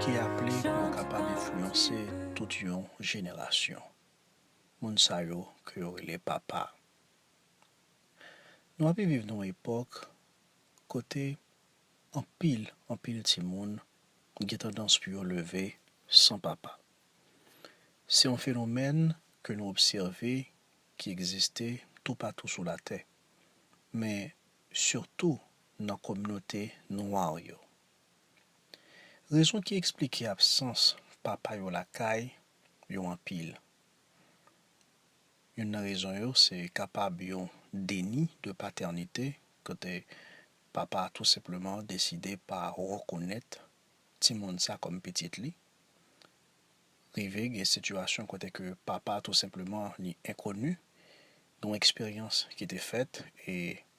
ki aple pou yo kapab enfliyanse tout yon jenerasyon, moun sa yo ke yo rele papa. Nou ape viv nan yon epòk kote anpil, anpil timoun gen tandans pou yo leve san papa. Se yon fenomèn ke nou obsève ki egziste toupatou sou latè, men sitou nan kominote nwa yo. Rezon ki eksplike absans papa yo lakay yo anpil. Youn nan rezon yo se kapab yon deni de patènite kote papa a tou senpleman deside pa rekonèt timoun sa kòm pitit li. Rive gen sitiyasyon kote ke papa tou senpleman li enkoni, yon eksperyans ki te fèt e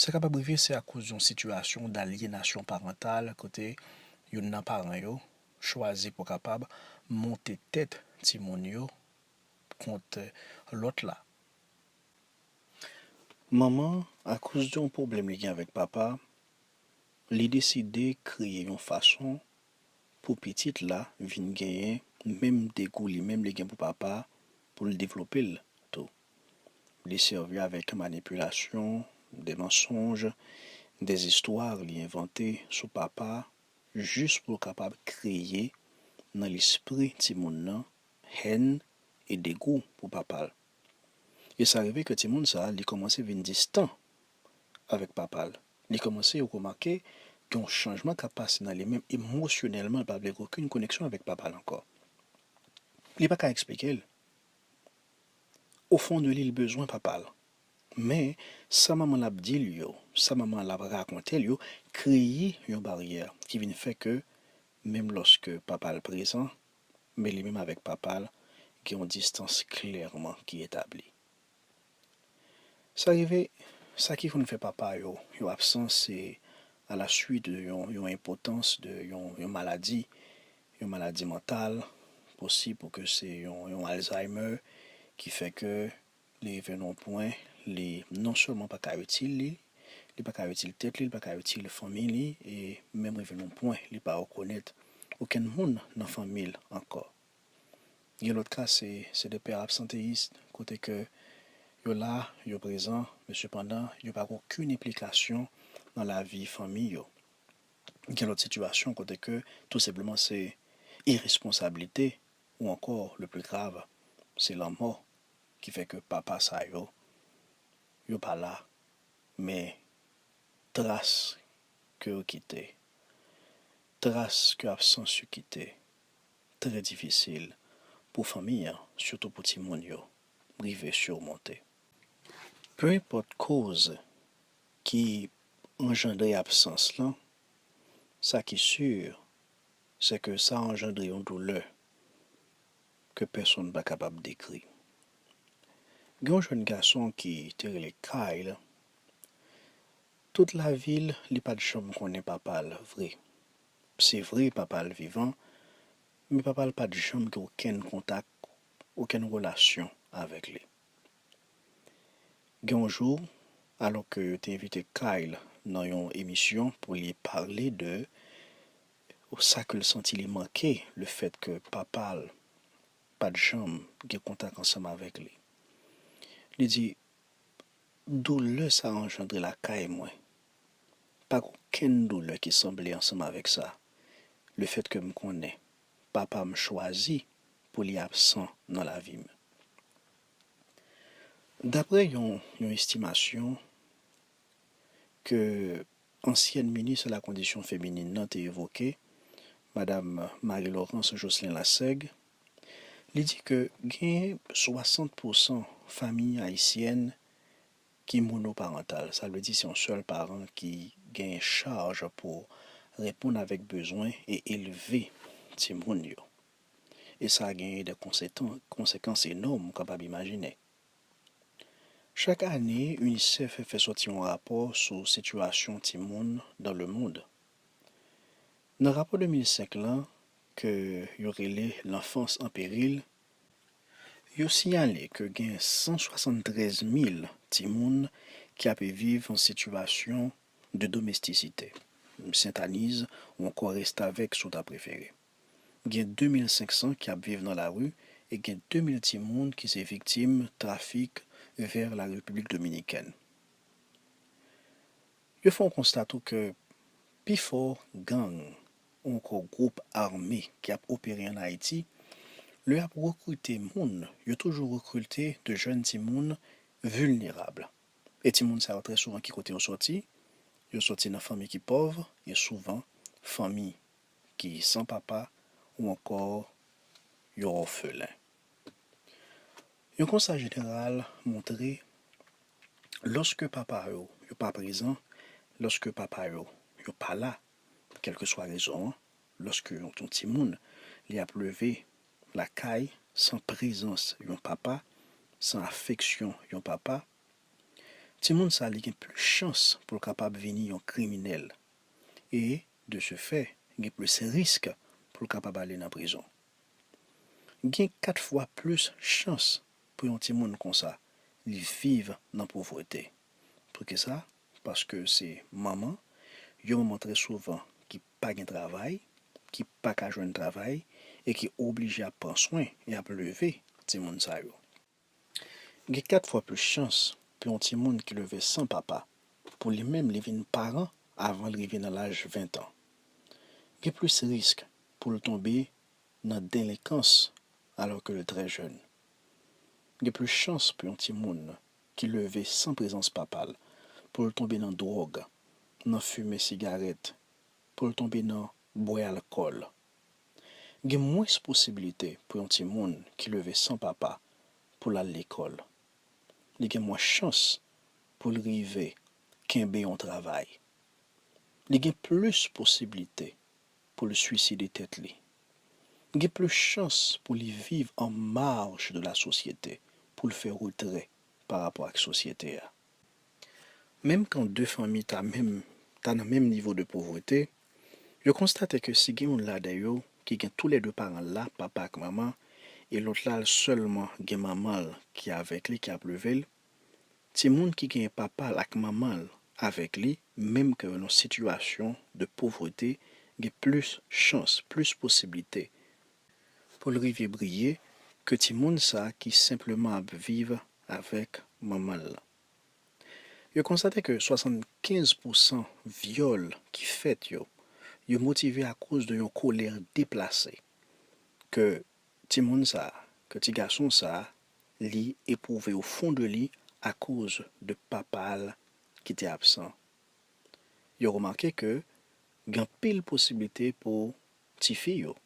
Sa kapab rive se akoz yon sitiyasyon dalyenasyon parantal kote youn nan paran yo chwazi pou kapab monte tèt timoun yo kont lòt la. Manman, akoz de yon pwoblèm li gen avèk papa, li deside kreye yon fason pou pitit la vin genyen menm degou li menm li gen pou papa pou l devlope l tou. Li sèvi avèk manipilasyon, de mansonj, de zistwa li envante sou papa jis pou l kapab kreye nan lespri timoun nan hèn e degou pou papa l. E sa rive ke timoun sa li kòmanse vin distan avèk papa l. Li kòmanse remake gen yon chanjman k ap pase nan li menm emosyonèlman l pa vle gen okenn koneksyon avèk papa l ankò. Li pa ka eksplike l. Au fond de li l bezwen papa l. Men, sa manman l ap di l yo, sa manman l ap rakonte l yo kreye yon baryè ki vin fè ke menm lòske papa l prezan, men li menm avèk papa l gen yon distans klèman ki etabli. Sa rive, sa ki konn fè papa yo, yo absan se a la swit de yon yon enpotans, de yon yon maladi, yon maladi mantal, posib pou ke se yon yon alzheimer ki fè ke li rive nan yon pwen li non sèlman pa ka itil li, li pa ka itil tèt li, li pa ka itil fanmi li e menm rive nan yon pwen li pa rekonèt okenn moun nan fanmi l ankò. Gen lòt ka se se de pè absanteyis kote ke yo la, yo prezan men sepandan yo pa gen okenn enplikasyon nan lavi fanmi yo. Gen lòt sitiyasyon kote ke tou senpleman se iresponsablite ou ankò le pli grav se lanmò ki fè ke papa sa yo, yo pa la men tras ke yo kite, tras ke absans yo kite trè difisil pou fanmi an, sitou pou timoun yo, rive simonte. Pe enpòt koz ki anjandre absans lan, sa ki si, se ke sa anjandre yon doulè ke pèsonn pa kapab dekri. Gen yon jèn gason ki te rele Kyle, tout lavi l, li pa t janm konnen papa l vre. Se vre papa l vivan, men papa l pa t janm gen okenn kontak, okenn relasyon avèk li. Gen yon jou, alò ke yo te envite Kyle nan yon emisyon pou li pale de sa ke l santi li manke lefèt ke papa l pa t janm gen kontak ansanm avèk li, li di, Doulè sa anjandre lakay mwen, Pa gen okenn doulè ki sanble ansanm avèk sa, lefètke m konnen papa m chwazi pou li absan nan lavi m. Daprè yon yon estimasyon ke ansyèn minis alakondisyon feminin nan te evoke, Madam Marie Laurence Jocelyn Lassaigue, li di ke gen 60 pousan fanmi ayisyèn Ki monoparantal, sa vle di se yon sèl paran ki genyen chaj pou reponn avèk bezwen e elve timoun yo. E sa genyen de konsekans enòm ou kapab imajine. Chak ane, UNICEF fè sòti yon rapò sou sitiyasyon timoun dan le mond. Nan rapò 2005 lan, ke yo rele L'enfance en péril, Yo siyale ke gen 173 mil timoun ki ape viv an sitiyasyon de domestisite, sentaniz ou ankò restavèk si w ta prefere. Gen 2 mil 500 ki ap viv nan lari e gen 2 mil timoun ki se viktim trafik vers la République Dominicaine. Yo fè yon konsta tou ke pifò gang ou ankò gwoup ame ki ap opere an Ayiti, lè yap rekrite moun, yo toujou rekrilte de jèn timoun vilnerab. E timoun sa yo trè souvan ki kote yo sòti? Yo sòti nan fanmi ki pòv e souvan fanmi ki san papa ou ankò yo òfelen. Yon konsta jeneral montre lòske papa yo yo pa prezan, lòske papa yo yo pa la, Kèlkeswa rezon an, lòske yon timoun li ap leve lakay san prezans yon papa, san afeksyon yon papa, timoun sa li gen plis chans pou l kapab vini yon kriminèl e, de se fè, gen plis risk pou l kapab ale nan prizon. Gen kat fwa plis chans pou yon timoun konsa li viv nan povrete. Poukisa? paske se manman, yon manman trè souvan ki pa gen travay, ki pa ka jwenn travay e ki oblije ap pran swen e ap leve timoun sa yo. Gen 4 fwa plis chans pou yon timoun ki leve san papa pou li menm li vin paran avan l rive nan laj 20 tan. Gen plis risk pou l tonbe nan delenkans alò ke l trè jèn. Gen plis chans pou yon timoun ki leve san prezans papa l, pou l tonbe nan dwòg, nan fimen sigarèt, pou l tonbe nan bwè alkòl. Gen mwens posibilite pou yon timoun ki leve san papa pou l al lekòl. Li gen mwens chans pou l rive kenbe yon travay. Li gen plis posibilite. pou l suiside tèt li. Li gen plis chans pou li viv an marj de la sosyete, pou l fè retrè pa rapò ak sosyete a. Menm kan de fanmi ta menm ta nan menm nivo de povrete, yo konstate ke si gen youn ladan yo ki gen tou lè de paran l la, papa ak manman, e lòt la l sèlman gen manman l ki avèk li, ki ap leve l, Timoun ki genyen papa l ak manman l avèk li menm ke yo nan sitiyasyon de povrete gen plis chans, plis posiblite pou l rive briye ke timoun sa ki senpleman ap viv avèk manman l lan. Yo konstate ke 75 pousan vyòl ki fèt yo, yo motive akoz de yon kolè deplase ke timoun sa, ke ti gason sa li epwouve o fon de li akoz de papa l ki te absan. Yo remake ke gen anpil posiblite pou tifi yo,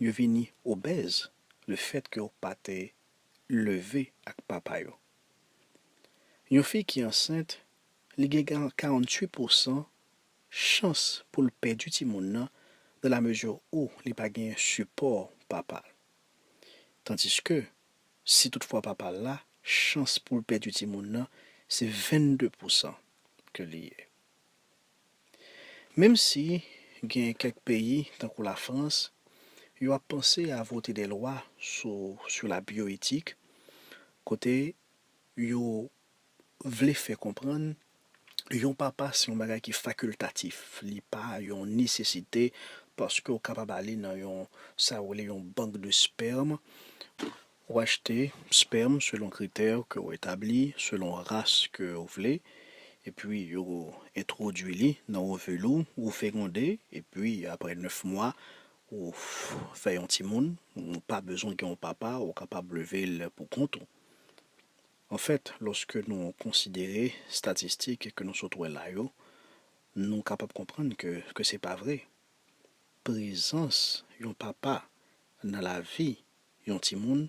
yo vini obèz lefèt ke yo pa te leve ak papa yo. Yon fi ki ansent, li gen 48 pousan chans pou l pèdi timoun nan, dan la mezi ou li pa genyen sipò papa l. Tandiske, si tout fwa papa l la, chans pou l pèdi timoun nan se 22 pousan ke li ye. Menm si gen kèk peyi tankou la Frans, yo ap panse a vote de lwa sou la bioetik kote yo vle fè konprann yon papa se yon bagay ki fakultatif, li pa yon nesesite paske ou kapab ale nan yon sa yo rele yon bank de sperme, ou achte sperme selon kritè ke ou etabli, selon ras ke ou vle, epi yo entwodui li nan ovil ou, ou fegonde, epi apre 9 mwa ou fè yon timoun, ou pa bezwen gen yon papa, ou kapab leve'l pou kont ou. Anfèt, lòske nou konsidere statistik ke nou sot wè la yo, nou kapab konprann ke ke se pa vre. Prezans yon papa nan lavi yon timoun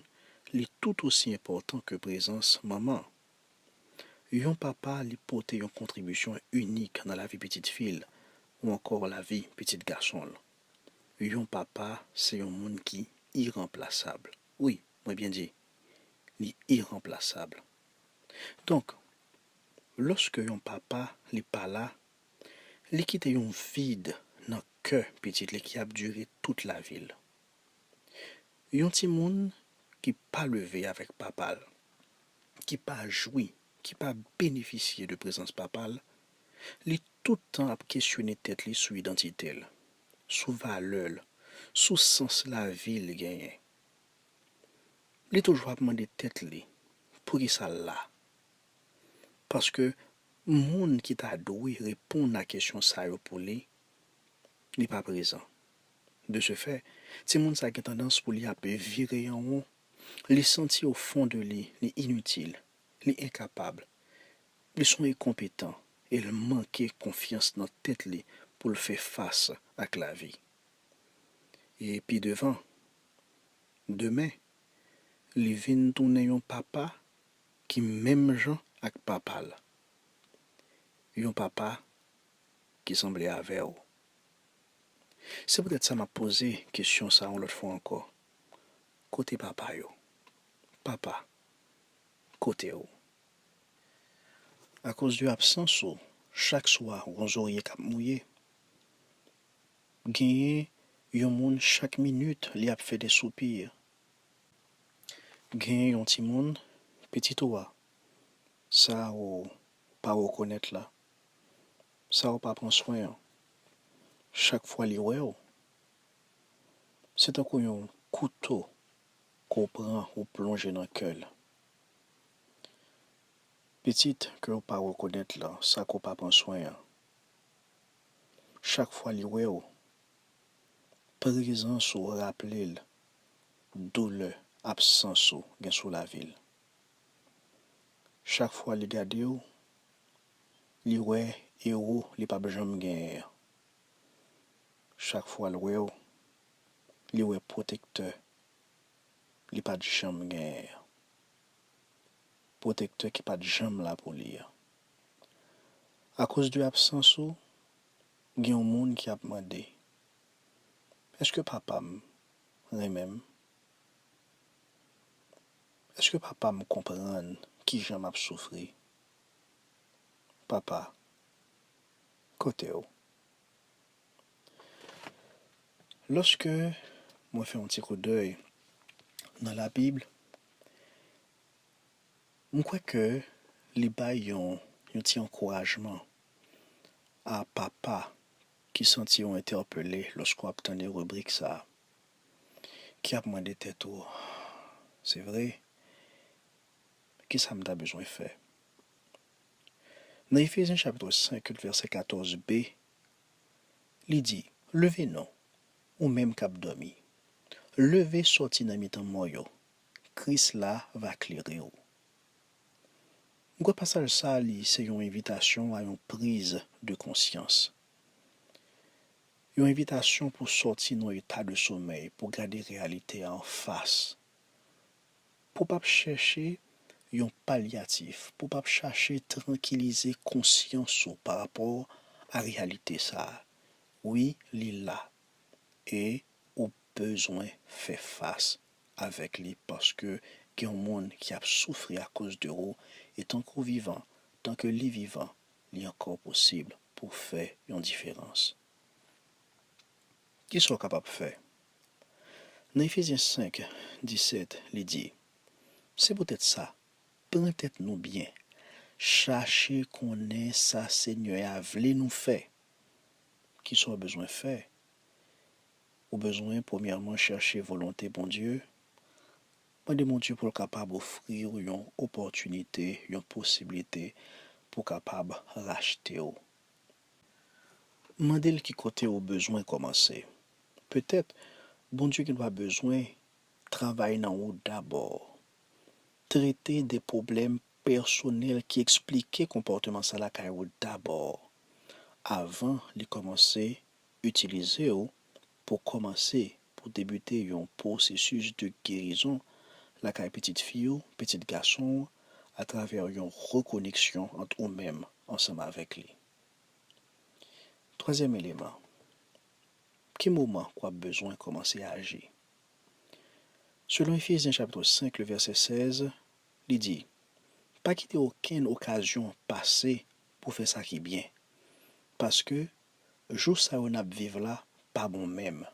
li tout osi enpòtan ke prezans manman. Yon papa li pote yon kontribisyon inik nan lavi pitit fi l ou ankò lavi pitit gason l. Yon papa se yon moun ki iranplasab. Wi, mwen byen di. li iranplasab. Donk, lòske yon papa li pa la, li kite yon vid nan kè pitit li ki ap dire tout lavi l. Yon timoun ki pa leve avèk papa l, ki pa jwi, ki pa benefisye de prezans papa l, li tout tan ap kesyone tèt li sou idantite l, sou valè l, sou sans lavi l genyen. li toujou ap mande tèt li poukisa l la. Paske moun ki ta dwe reponn a kesyon sa yo pou li, li pa prezan. De se fè, timoun sa gen tandans pou li ap vire an won, li santi o fon de li, li initil, li enkapab, li son enkonpetan e l manke konfyans nan tèt li pou l fè fas ak lavi. e pi devan, demen, li vin tounen yon papa ki menm jan ak papa l, yon papa ki sanble avè w. Se poutèt sa m ap poze kesyon sa a yon lòt fwa ankò, Kote papa yo? Papa, kote w? Akoz de absans ou, chak swa, w gen yon zorye k ap mouye. Genyen yon moun chak minit li ap fè de soupir genyen yon timoun pitit ou a sa ou pa rekonèt la sa ou pa pran swen an chak fwa li wè ou se tankou yon kouto ke w pran ou plonje nan kè l pitit ke ou pa rekonèt la sa ke w pa pran swen an. chak fwa li wè w, prezans ou raple l doulè absans ou gen sou lavi l. Chak fwa li gade w, li wè ewo li pap janm genyen an. Chak fwa l wè w, li wè pwotektè li pat janm genyen an. Pwotektè ki pat janm la pou li an. A koz de absans ou gen yon moun ki ap mande Eske papa m renmen m? Eske papa m konprann kijan m ap soufri? Papa, kote w? Lòske mwen fè yon ti koudèy nan labib. M kwè ke li bay yon yon ti ankourajman a papa ki santi yo entèpele lòske w ap tande ribrik sa a, ki ap mande tèt ou, Se vre? Kisa m ta bezwen fè? Nan Efezyen chapitre 5 et vèsè 14 b, li di, Leve non, ou menm k ap dòmi, leve sòti nan mitan mò yo, Kris la va klere ou. M kwè pasaj sa li se yon envitasyon a yon priz de konsyans. Yon envitasyon pou sòti nan eta de somèy, pou gade reyalite a anfas, pou pa p chèche yon palyatif, pou pa p chache trankilize konsyans ou pa rapò a reyalite sa. Wi li la e ou bezwen fè fas avèk li paske gen yon moun ki ap soufri akoz de ou e tanke w vivan, tanke li vivan li ankò posib pou w fè yon diferans. Kisa w kapab fè? Nan Efezyen 5, 17 li di, Se poutèt sa, pran tèt nou byen, chache konnen sa Senyè a vle nou fè. Kisa w bezwen fè? Ou bezwen premyèman chèche volonte Bondye, mande Bondye pou l kapab ofri w yon opòtinite, yon posiblite pou kapab rachte w. Mande l ki kote ou bezwen kòmanse. Petèt Bondye gendwa bezwen travay nan ou dabò, trete de pwoblèm pèsonèl ki eksplike konpòteman sa lakay ou dabò, avan li kòmanse itilize w pou kòmanse pou debite yon pwosesis de gerizon lakay pitit fi w, pitit gason w atravè yon rekoneksyon ant ou menm ansanm avèk li. Twazyèm eleman, Ki moman wap bezwen kòmanse aji? Selon Efezyen chapitr 5 le vèsè 16, li di, Pa kite okenn okazyon pase pou fè sa ki byen, paske jou sa yo nap viv la pa bon menm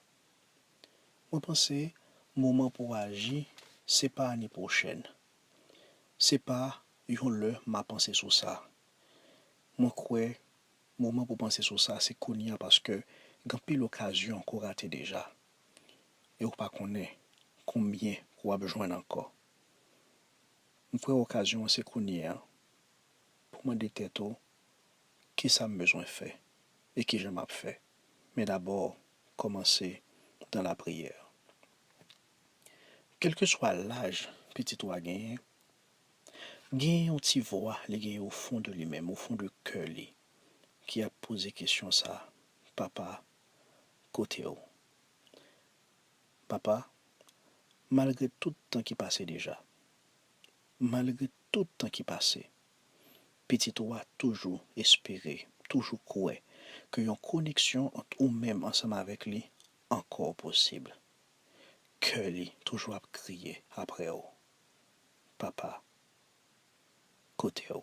mwen panse moman pou w aji se pa ane pwochèn se pa yon lè ma panse sou sa mwen kwè moman pou panse sou sa se kounya paske gen anpil okazyon ke w rate deja e w pa konnen konbyen ke w ap jwenn ankò m kwè okazyon an se kounye an pou mande tèt ou Kisa m bezwen fè e kijan m ap fè? Men dabò, kòmanse dan lapriyè. Kèlkeswa laj pitit ou a genyen, gen yon ti vwa li genyen ofon de li menm, ofon de kè li, ki ap poze kesyon sa a, Papa, kote ou? Papa, malgre tout tan ki pase deja, malgre tout tan ki pase, Pitit ou a toujou espere, toujou kwè ke yon koneksyon ant ou menm ansanm avèk li ankò posib. Kè li toujou ap kriye apre ou. Papa, kote ou?